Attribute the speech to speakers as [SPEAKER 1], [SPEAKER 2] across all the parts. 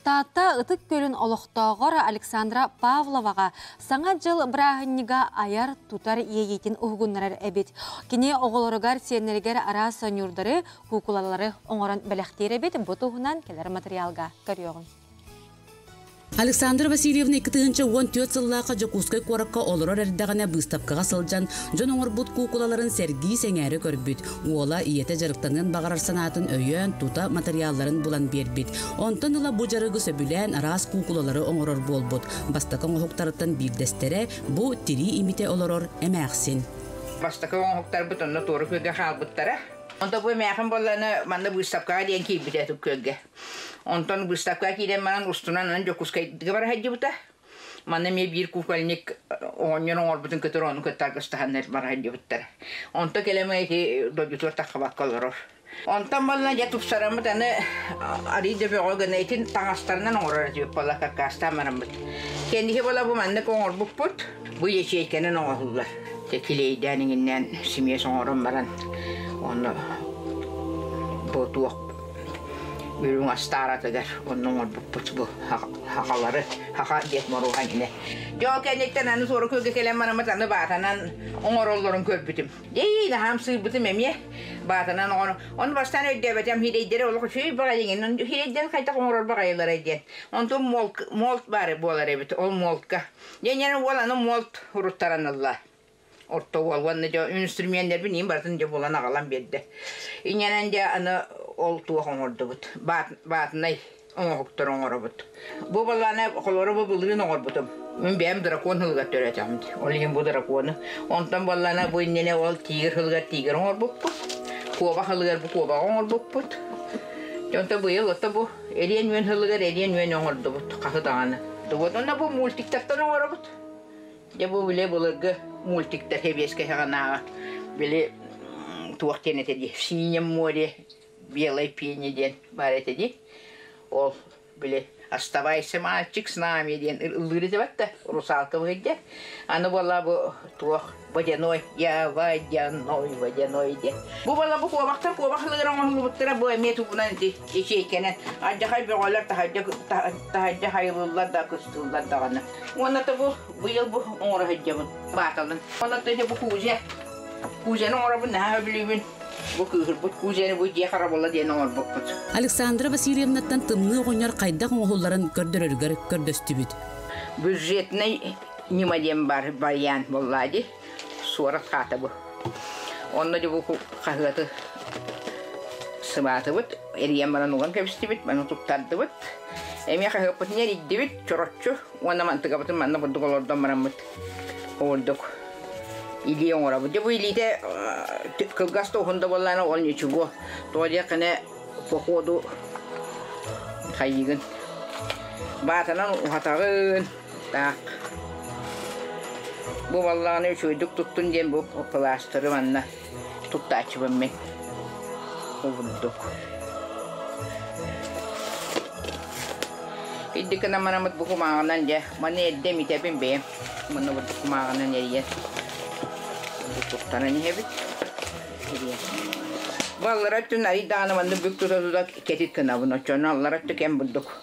[SPEAKER 1] Таатта Ытык Күлүн олохтооҕор Александра Павловаҕа Саҥа дьыл бырааһынньыга айар-тутар иэйиитин уһугуннарар эбит. Кини оҕолоругар-сиэннэригэр араас сонньуурдары, куукулалары оҥорон бэлэхтиир эбит. Бу туһунан кэлэр матырыйаалга көрүөҕүҥ. Александра
[SPEAKER 2] Васильевна икки тыһыынча уон түөрт сыллаахха Дьокуускай куоракка олорор эрдэҕинэ быыстапкаҕа сылдьан, дьон оҥорбут куукулаларын сэргии сэҥээрэ көрбүт. Уола ийэтэ дьарыктаныан баҕарар санаатын өйөөн, тута матырыйаалларын булан биэрбит. Онтон ыла бу дьарыгы сөбүлээн араас куукулалары оҥорор буолбут. Бастакы оҥоһуктарыттан биирдэстэрэ бу тирии имитэ олорор эмээхсин. Бастакы
[SPEAKER 3] оҥоһуктарбыт онно туору күөлгэ хаалбыттара. Онто бу эмээхин буоллаҕына манна быыстапкаҕа диэн киирбитэ күөлгэ. Онтон быыстапкаҕа киирэн манан устунан Дьокуускайга бара сылдьыбыта. Маны эмиэ биир кукольник оҕонньор оҥорбутун көтөр ону кытта аргыстаһаннар баран дьыбыттар. Онто кэлэмэ ити дойдутугар таххабакка олорор. Онтон балла дьэ тупсараммыт аны арый да бөҕө гына итин таҥастарынан оҥорор диэбит бола каккаастаан бараммыт. Кэнники бола бу маннык оҥорбуппут бу ячейканан оҥоһуллар. Килейдээн иҥиннээн симиэс оҥорон баран онно бу туох Үрүҥ астааратыгар онно оҥорбуппут бу хахалары хаха диэт моруоһан ини. Дьон кэнниттэн аны суора күөлгэ кэлэн бараммыт аны баатанан оҥороллорун көрбүтүм. Эй, наһаам сыырбытым эмиэ баатанан оҥоро. Ону бастаан өйдөөбөтөм, хирэйдэрэ олох үчүгэй баҕайыҥын, хирэйдэр хайдах оҥорор баҕайыларай диэн. Онтум молк, молт баары буолар эбит, ол молтка. Дьэ, уол аны молт уруттаран ылла. орто уол уонна дьэ инструменнербин иин барытын дьэ булан аҕалан биэрдэ. Инэнэн дьэ аны ол туох оҥордубут. Баат, баатынай оҥоһуктары оҥоробут. Бу балааны холоро бу былыын оҥорбутум. Мин бэйэм дракон хылыгар төрөөтөҕүм дии. Ол иһин бу дракону. Онтон баллана бу иннинэ ол тигр хылыгар тигр оҥорбуппут. Куоба хылыгар бу куобаҕа оҥорбуппут. Дьэ онто быйыл отто бу эриэн үөн хылыгар эриэн үөн оҥордубут хаһы даҕаны. Тугут онно бу мультиктартан оҥоробут. Дьэ бу били былыргы мультиктар сэбиэскэһэ гынааҕа били туох диэн этэ дии синем море белой пени диэн баар этэ дии ол били оставайся мальчик с нами диэн ыллыыр этэ да русалкалыыр дьэ аны буолла бу туох водяной я водяной водяной диэн бу буолла бу куобахтар куобах ылыгар оҥоһуллубуттара бу эмиэ тугунан ити ичейкэнэн ардьахай бөҕөлөр таһырдьа таһырдьа хайылыыллар да кыстыыллар даҕаны Уонна тобу быйыл бу оҥоро сылдьабын, бааталын. Уонна тыһы бу кузя. Кузяны оҥоробун наһаа өбүлүүбүн. Бу кыыһырбыт кузяны бу дьиэ харабала диэн
[SPEAKER 2] оҥорбуппут. Александра Васильевнаттан тымныы оҕонньор хайдах оҥоһулларын көрдөрөрүгэр көрдөстүбүт. Бюджетнай
[SPEAKER 3] ньыма диэн бар байаан буоллаа дии. Суорат хаата бу. Онно дьубуку хаһыаты сыбаатыбыт, эрийэн баран уган кэбистибит, маны туттардыбыт. Эми хаһыаппытын эрийдибит, чороччу уонна мантыкабытын манна курдук олордон бараммыт ордук илии оҥоробут. Дьэ бу илиитэ кылгас да уһун да буоллаана ол ничего. Тоҕо диэххинэ походу хайыгын. Баатанан уһатаҕын, Так. Бу валлааны үчүгэйдик туттун диэн бу кылаастары манна туттааччыбын мин. Курдук. Иддик намарамыт бу кумааҕынан дьэ, маны эрдэ митэбин бэйэм. Маны бу кумааҕынан эрийэн. Туттаран иһэбит. Эрийэн. Баллара түн айдааны манны бүк тута тута кетит кынабын. Оччону аллара түкен бурдук.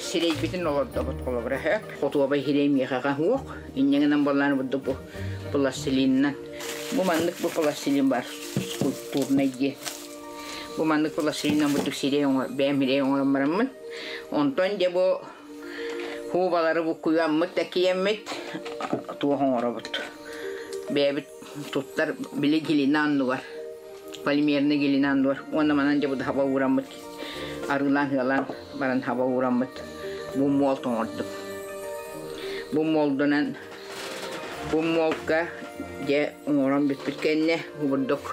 [SPEAKER 3] сирэйбитин олордобут холобура өһө хотуоба иһирэй миэхэҕэ уох инньэҥинэн буоллаан бурдук бу пластилинынан бу маннык бу пластилин бар скульптурнай диэн бу маннык пластилиннан бурдук сирэй оҥор бэйэм ирэй оҥорон бараммын онтон дьэ бу хуубалары буккуйаммыт такиэммит туох оҥоробут бэйэбит туттар били глина аннугар полимерный глина аннугар уонна манан дьэ бу даһаба уураммыт Арыылаан-сыалаан баран хаба уураммыт бу муол тоҥордум. Бу муолдунан бу муолка дьэ оҥорон бүппүт кэннэ кубурдук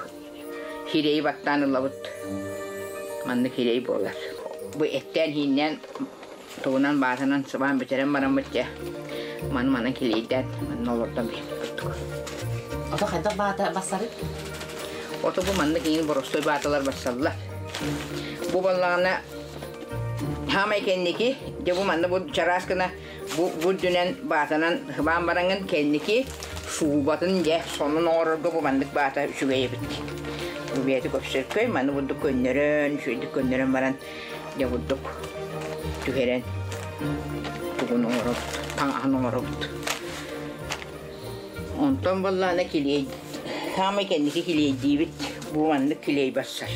[SPEAKER 3] сирэйи баттаан ылабыт. Маннык сирэй буолар. Бу эттээн-сииннээн тугунан баатанан сыбаан бүтэрэн бараммыт дьэ маны-маны килийдээт манна олордон биһип курдук.
[SPEAKER 2] Ото хайдах баата бассары? Ото
[SPEAKER 3] бу маннык иин боростуой бааталар бассаллар. Бу баллаҕана хаамай кэнники дьэ бу манна бу чараас гына бу бу үрдүнэн баатанан сыбаан бараҥын кэнники суубатын дьэ сонун оҥорорго бу маннык баата үчүгэй эбит. Бу бэйэтэ көпсөркөй маны бурдук көннөрөн, үчүгэйдик көннөрөн баран Дьэ курдук түһэрэн тугун оҥоробут, таҥаһын оҥоробут. Онтон баллаана килиэй саамай кэнники килиэйдиибит бу маннык килиэй барсар.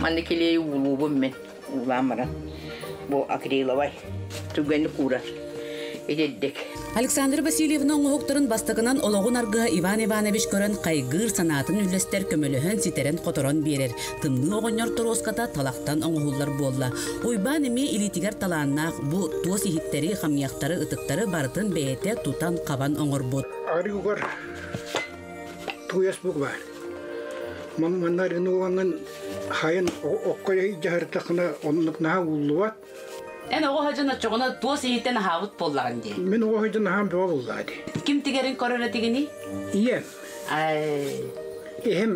[SPEAKER 3] Маннык килиэйи уулуубун мин уулаан баран бу акриловай Түгэни куурар. Итирдик. Александра
[SPEAKER 2] Васильевна оҥоһуктарын бастакынан олоҕун аргыһа Иван Иванович көрөн хайгыыр, санаатын үллэстэр, көмөлөһөн, ситэрэн-хоторон биэрэр. Тымныы оҕонньор торуоската талахтан оҥоһуллар буолла. Уйбаан эмиэ илиитигэр талааннаах бу туос иһиттэри, хамыйахтары, ытыктары барытын бэйэтэ тутан-хабан оҥорбут. Арыгыгар
[SPEAKER 4] туйас бук баар. Маны манна арыгыны уонан хайын окко дьаһартахына оннук наһаа ууллубат. Эн оҕо
[SPEAKER 2] сыдьан оччоҕуна туос иһиттэн аһаабыт буоллаҕын дии. Мин оҕо сыдьан аһаан бөҕө
[SPEAKER 4] буллаа дии. Ким тигэрин көрөр
[SPEAKER 2] этигиний? Ийэм.
[SPEAKER 4] Ай. Эһэм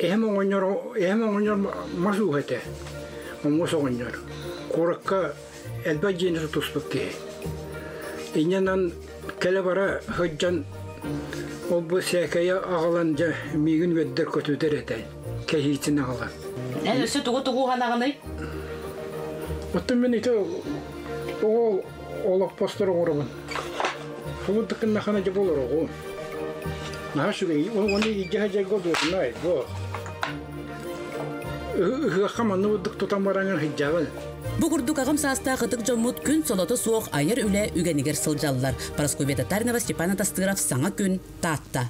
[SPEAKER 4] эһэм оҕонньор эһэм оҕонньор мас ууһа этэ. Муус оҕонньор. Куоракка элбэх дьиэни тутуспут киһи. Инньэнэн кэлэ-бара сылдьан ол-бу сээкэйэ аҕалан дьэ миигин үөрдэр көтүтэр этэ. кэһиитин аҕалан. Эн өссө тугу-тугу
[SPEAKER 2] уһанаҕыный?
[SPEAKER 4] Оттон мин ити оҕо олохпостор оҥоробун. Олун тыкыннахана дьэ болор оҕо. Наһаа сүрэй, оны иждеһэ жайго дуотунай бо. Ыһыахха манны буддук тутан бараңын хыйдябын. Бу курдук ағым
[SPEAKER 2] саастаах ытык дьоммут күн соноto суох айар үлэ үгэнигэр сылдьаллар. Парасковета Тарнова, Степан Атастыров, саҥа күн, Таатта.